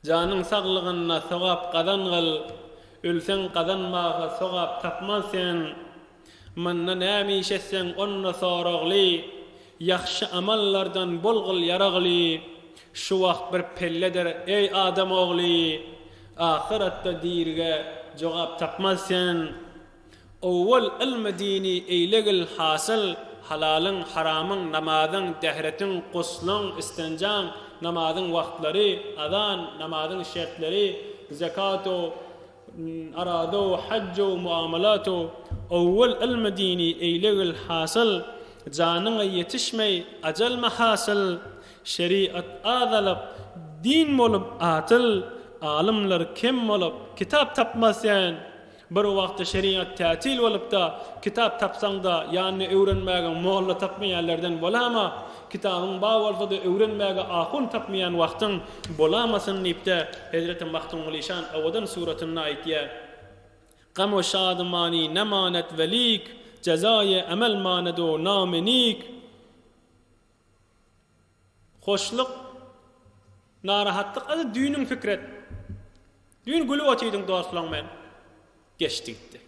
Janyň saglygynda sogap gazangyl, ölseň gazanmaga sogap tapman sen. Manda näme iş etseň onda soragly, ýagşy amallardan bolgyl ýaragly. Şu wagt bir pelledir, eý adam ogly, ahyratda dirige jogap tapman sen. Owwal ylmy dini eýlegil hasyl, halalyň, haramyň, namazyň, dähretiň, guslyň, istenjaň, namazyň wagtlary, azan, namazyň şertleri, zekatow, arazow, hajjow, muamalatow, owwal ylmy dini eýlegil hasyl, janyňa ýetişmeý, ajal mahasyl, şeriat az alyp, din bolup atyl, alymlar kem bolup, kitap tapmaz sen, Bir wagtda şerigat tätil bolupda, kitap tapsaň-da, ýanyna öwrenmäge molla tapmaýan lerden bolama, kitabyň bar bolsa-da öwrenmäge ahun tapmaýan wagtyň bolamasyn diýipde, hezreti Magtymgulyşan Awadan suratynda aýtýar, Gam o şadymani ne manet velik, Jezaýy emel manedo name nik. Hoşlyk, narahatlyk, a-da düýnüň Fikret? Düýn gülüp otydyň dostlaň bilen, geçdi gitdi.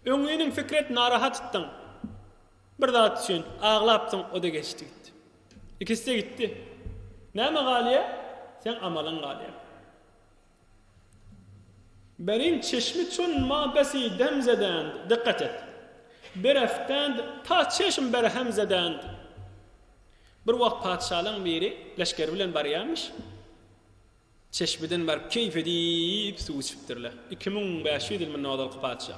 Öňňiniň Fikret narahatdyň, bir zat üçin aglapdyň, o-da geçdi gitdi. Ikisi-de gitdi. Näme galýa? Seň amalyň galýa. Berin çeşmi çun ma besi dem zedand, dykgat et. Bereftand ta çeşm berhem zedand. Bir wagt patyşalaň biri leşgeri bilen barýarmyş. Çeşmiden baryp keýp edip suw içipdirler. Iki müň bäş ýüz ýylmyndan ozalky patyşa.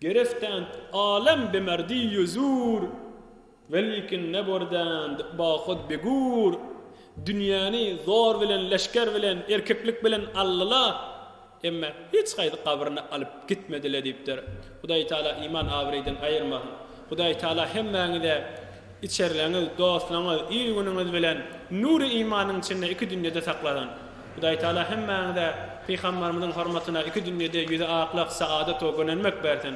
Gerestent alem be merdi ýüzür, Welikin ne bordent bahut be gür, Dünýäni zor bilen, leşger bilen, erkeklik bilen aldylar, emma hiç haýsy gabryny alyp gitmediler diýipdir. Hudaý Taala iman abraýdan aýyrmasyn. Hudaý Taala hemmäňize içerleňiz, dostlaňyz, il-günüňiz bilen nury imanyň içinde iki dünýede saklasyn. Hudaý Taala hemmäňize Pygambarymyzyň hormatyna iki dünýede ýüzi aklak, saadat we gönenmek bersin.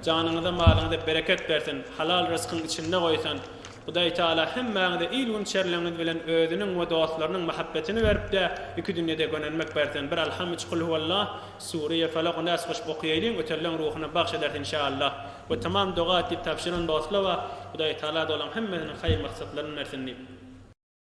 Janyňyza, malyňyza bereket bersin, halal ryskyň içinde goýsun. Hudaý Taala hemmäňize il-gün içerleňiz bilen özüniň we dostlarynyň mahabbetini berip-de iki dünýede gönenmek bersin. Bir Alham üç Kul Huwallah. Sure Falak Nas goşup okaýaýlyň ötelleň ruhuna bagş ederis inşaallah we tamam doga et diýip tabşyran dostlawa Hudaýtagala dolaň hemmesiniň haýyr maksatlaryny bersin diýip.